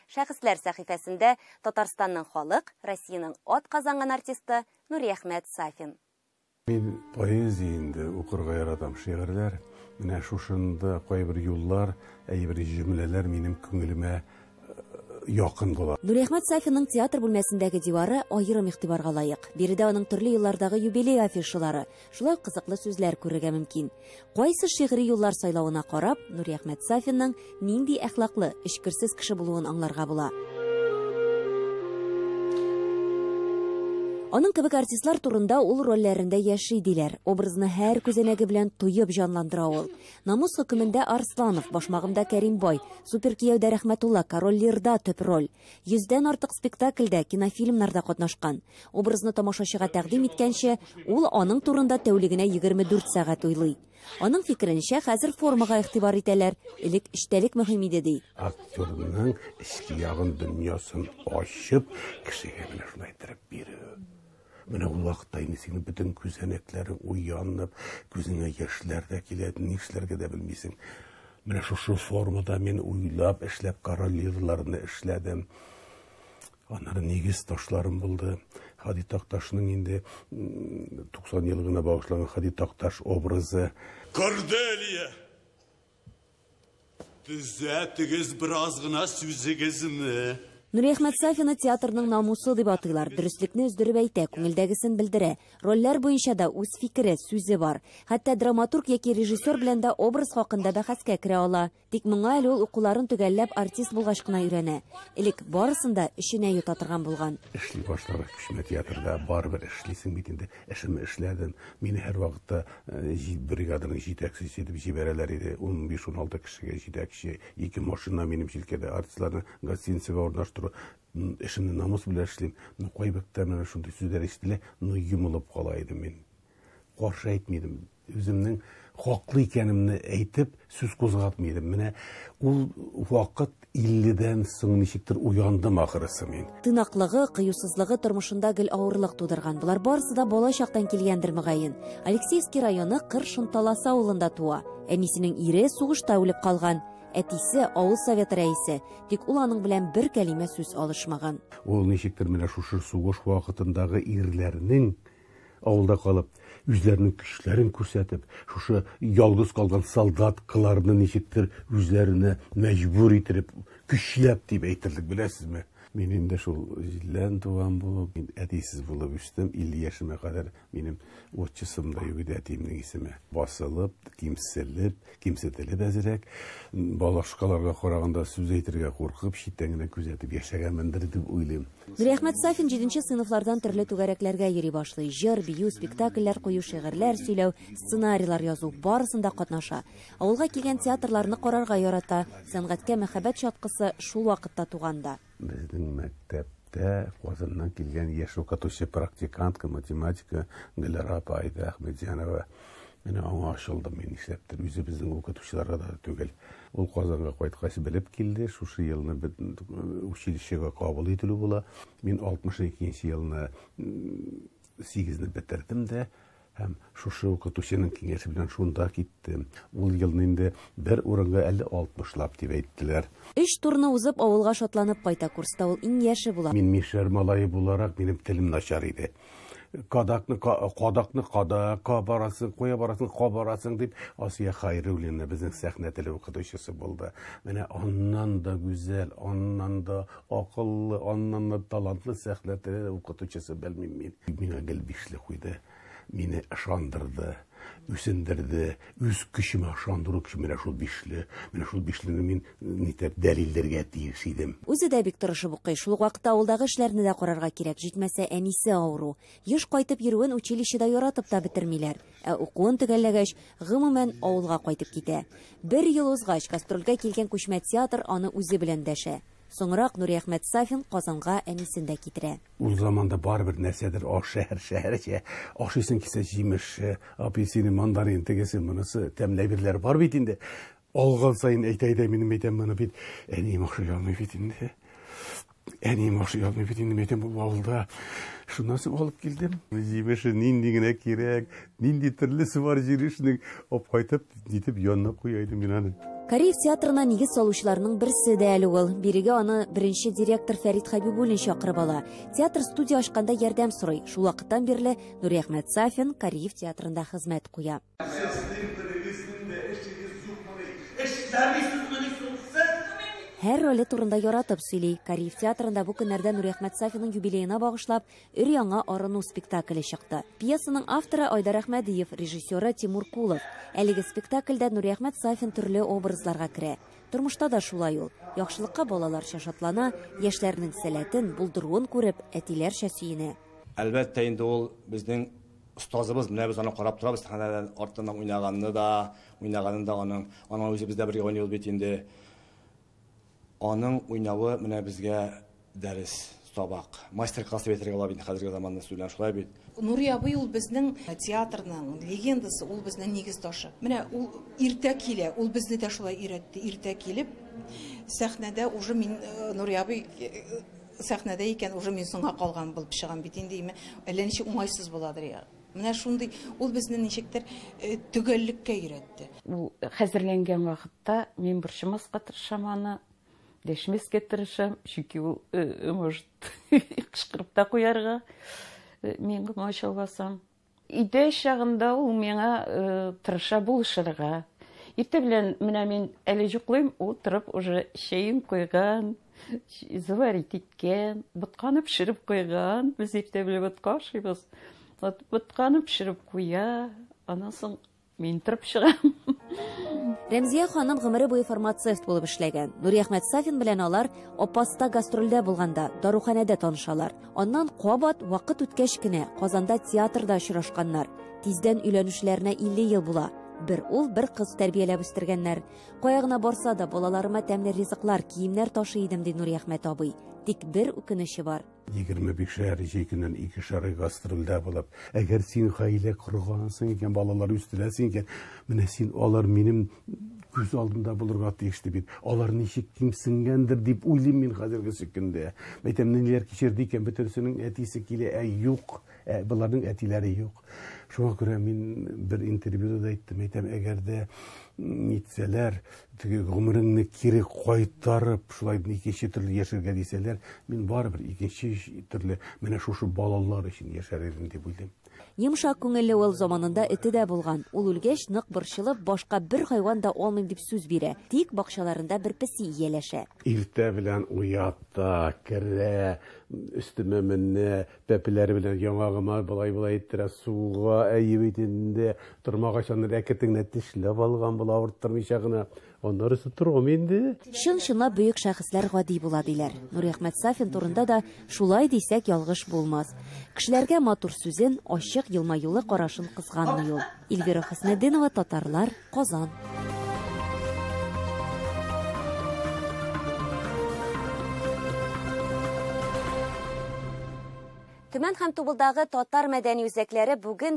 Шәхесләр сәхифәсендә Татарстанның халык, Россиянең атказанган артисты Нуриәхмәт Сафин. Мин поэзия инде укырга яратам, шигырьләр. Менә шушында кайбер юллар, әйбер җөмләләр минем күңелемә якын була. Нуриәхмәт Сафинның театр бүлмәсендәге дивары аерым игътибарга лаек. Биредә аның төрле еллардагы юбилей афишалары, Шулай ук кызыклы сүзләр күрергә мөмкин. Кайсы шигъри юллар сайлавына карап, Нуриәхмәт Сафинның нинди әхлаклы, эчкерсез кеше булуын аңларга була. Аның кебек артистлар турында ул рольләрендә яши, диләр. Образны һәр күзәнәге белән тоеп җанландыра ул. Намус хөкемендә Арсланов, Башмагымда Кәримбай, Суперкияүдә Рәхмәтулла, Король Лирда төп роль. Йөздән артык спектакльдә, кинофильмнарда катнашкан. Образны тамашачыга тәкъдим иткәнче, ул аның турында тәүлегенә 24 сәгать уйлый. Аның фикеренчә, хәзер формага игътибар итәләр, элек эчтәлек мөһим иде, ди. Актерның эчке ягын, дөньясын ачып, кешегә менә шулай иттереп бирү. Менә ул вакытта инде синең бөтен күзәнәкләрең уянып, күзеңә яшьләр дә килә, нишләргә дә белмисең. Менә шушы формада мин уйлап, эшләп королеваларны эшләдем. Аннары нигез ташларым булды. Хади Такташның инде 90 ел гына багышланган Хади Такташ образы. Корделия! Төзәтегез бераз гына сүзегезне. Нуриәхмәт Сафина театрның намусы дип атыйлар. Дөреслекне өздереп әйтә, күңелдәгесен белдерә. Рольләр буенча да үз фикере, сүзе бар. Хәтта драматург яки режиссер белән дә образ хакында бәхәскә керә ала. Тик моңа әле ул укуларын төгәлләп артист булгач кына өйрәнә. Элек барысын да эченә йота торган булган. Эшли башлагач, кечкенә театрда барыбер эшлисең бит инде. Эшемне эшләдем. Мине һәрвакытта бригаданың җитәкчесе итеп җибәрәләр иде. Унбиш-уналты кешегә җитәкче, ике машина минем җилкәдә. Артистларны гостиницага урнаштыру. Эшемне намус белән эшлим. Ну, кайбертта менә шундый сүзләр ишетелә, ну, йомылып кала идем мин. Каршы әйтми идем. Үземнең хаклы икәнемне әйтеп, сүз кузгатмый идем. Менә ул вакыт 50 дән соң ничектер уяндым ахрысы мин. Тыйнаклыгы, кыюсызлыгы тормышында гел авырлык тудырган. Болар барысы да бала чактан килгәндер, мөгаен. Алексеевский районы Кыр Шонталасы авылында туа. Әнисенең ире сугышта үлеп калган. Әтисе, авыл советы рәисе. Тик ул аның белән бер кәлимә сүз алышмаган. Ул ничектер менә шушы сугыш вакытындагы ирләрнең, Авылда калып, үзләренең көчләрен күрсәтеп, шушы ялгыз калган солдаткаларны ничектер үзләренә мәҗбүр иттереп, көчләп дип әйтерлек, беләсезме? Мин инде шул җиллән туган булып, мин әтисез булып үстем. 50 яшемә кадәр минем отчеством да юк иде, әтиемнең исеме. Басылып, кимселеп, Кимсетелеп әзрәк, балашкаларга караганда сүз әйтергә куркып, читтән генә күзәтеп яшәгәнмендер дип уйлыйм. Нуриәхмәт Сафин җиденче сыйныфлардан төрле түгәрәкләргә йөри башлый. Җыр, бию, спектакльләр кую, шигырьләр сөйләү, сценарийлар язу, барысында катнаша. Авылга килгән театрларны карарга ярата. Сәнгатькә мәхәббәт чаткысы шул вакытта туган да. Безнең мәктәп мәктәптә Казаннан килгән яшь укытучы практикантка математика Гөлара апа Айда Әхмәдҗанова. Менә аңа ачылдым мин нишләптер, үзе безнең укытучыларга да түгел. Ул Казанга кайткач белеп килде, шушы елны училищега кабул ителү була. Мин 62 нче елны Сигезне бетердем дә һәм шушы укытучының киңәше белән шунда киттем. Ул елны инде бер урынга әле алтмышлап дип әйттеләр. Өч турны узып, авылга шатланып кайта. Курста ул иң яше була. Мин мишәр малае буларак, минем телем начар иде. Кадакны кадакны када, кабарасың, куя барасың, кабарасың, дип, Асия Хәйруллина безнең сәхнә теле укытучысы булды. Менә аннан да гүзәл, аннан да Акыллы, аннан да талантлы сәхнәтеле укытучысы, белмим мин. Миңа гел бишле куйды, мине ышандырды, үсендерде, үз көчемә ышандыру көче менә шул бишле. Менә шул бишлене мин нитәп дәлилләргә тиеш идем. Үзе дә бик тырышып укый, шул ук вакытта авылдагы эшләрне дә карарга кирәк, җитмәсә, әнисе авыру. Еш кайтып йөрүен училищеда яратып та бетермиләр. Ә укуын төгәлләгәч, гомумән, авылга кайтып китә. Бер ел узгач, гастрольгә килгән күчмә театр аны үзе белән дәшә. Соңрак Нуриәхмәт Сафин Казанга әнисен дә китерә. Ул заманда барыбер нәрсәдер аш шәһәр шәһәрчә ашыйсың килсә, җимеш, апельсины, мандарин, тегесе, монысы, тәмле әйберләр бар бит инде. Алган саен әйтә-әйтә минем әйтәм моны бит әнием охшый алмый бит инде. Әнием охшый алмый бит инде әйтәм ул авылда. Шуннан соң алып килдем. Җимеше нинди генә кирәк, нинди төрлесе бар җимешнең, алып кайтып, нитеп янына куя идем мин аны. Кариев театрына нигез салучыларның берсе дә әле ул. Бирегә аны беренче директор Фәрит Хәбибуллин чакырып ала. Театр студия ачканда ярдәм сорый. Шул вакыттан бирле Нуриәхмәт Сафин Кариев театрында хезмәт куя. Сез тимтерегез инде, эшегез юкмыни? Эшләмисезмени соң сез? Һәр роле турында яратып сөйли. Кариев театрында бу көннәрдә Нуриәхмәт Сафиның юбилеена багышлап өр-яңа Арыну спектакле чыкты. Пьесаның авторы Айдар Әхмәдиев, режиссеры Тимур Кулов. Әлеге спектакльдә Нуриәхмәт Сафин төрле образларга керә. Тормышта да шулай ул. Яхшылыкка балаларча шатлана, яшьләрнең сәләтен, булдыруын күреп, әтиләрчә сөенә. Әлбәттә инде ул безнең остазыбыз, менә без аны карап торабыз, сәхнәдән артыннан уйнаганны да, уйнаганын да аның, аның үзе бездә бергә уйный ул бит инде. Аның уйнавы менә безгә дәрес, сабак. Мастер-класс дип әйтергә була бит хәзерге заманны сүзләр шулай бит. Нури абый ул безнең театрның легендасы, ул безнең нигез ташы. Менә ул иртә килә, ул безне дә шулай өйрәтте, иртә килеп сәхнәдә уже мин Нури абый Сәхнәдә икән, уже мин соңга калган булып чыгам бит инде, име, әллә ничек уңайсыз буладыр я. Менә шундый, ул безне ничектер төгәллеккә өйрәтте. Ул хәзерләнгән вакытта мин борчымаска тырышам аны, дәшмәскә тырышам, чөнки ул может кычкырып та куярга, мин комач ауласам. Өйдә чагында ул миңа тырыша булышырга. Иртә белән менә мин әле йоклыйм, ул торып уже чәен куйган, заварить иткән, ботканы пешереп куйган. Без иртә белән ботка ашыйбыз. Ботканы пешереп куя, аннан соң Мин торып чыгам. Рәмзия ханым гомере буе фармацевт булып эшләгән. Нуриәхмәт Сафин белән алар Апаста гастрольдә булганда, даруханәдә танышалар. Аннан кабат вакыт үткәч кенә Казанда театрда очрашканнар. Тиздән өйләнүчеләренә 50 ел була. Бер ул, бер кыз тәрбияләп үстергәннәр. Кая гына барса да, балаларыма тәмле ризыклар, киемнәр ташый идем, ди Нуриәхмәт абый. Тик бер үкенече бар. Егерме бишәр җәй көннән ике шары гастрольдә булып, әгәр син гаилә коргансың икән, балалар үстерәсең икән, менә син алар минем күз алдында булырга тиешле бит. Алар ничек кимсенгәндер дип уйлыйм мин хәзерге сөкендә. Мәйтәм, ниләр кичерде икән, бөтенсенең әтисе килә, ә юк. Ә боларның әтиләре юк. Шуңа күрә мин бер интервьюда да әйттем, әйтәм, әгәр дә нитсәләр, теге гомереңне кире кайтарып, шулай икенче төрле яшәргә дисәләр, мин барыбер икенче төрле менә шушы балалар өчен яшәр идем дип уйлыйм. Йомшак күңелле ул заманында эте дә булган. Ул үлгәч, нык борчылып, башка бер хайван да алмыйм дип сүз бирә. Тик бакчаларында бер песи ияләшә. Иртә белән уят та, керә, өстемә менә, Бәпеләре белән яңагыма болай-болай иттерә, суга, әйе бит инде, тормагач аны ләкетең генә тешләп алган була, авырттырмыйча гына. Аннары сытыргам инде. Чын-чынлап бөек шәхесләр гади була, диләр. Нуриәхмәт Сафин турында да шулай дисәк ялгыш булмас. Кешеләргә матур сүзен, ачык елмаюлы карашын кызганмый ул. Ильвира Хөснетдинова, Татарлар. Казан. Төмән һәм Тубылдагы татар мәдәни үзәкләре бүген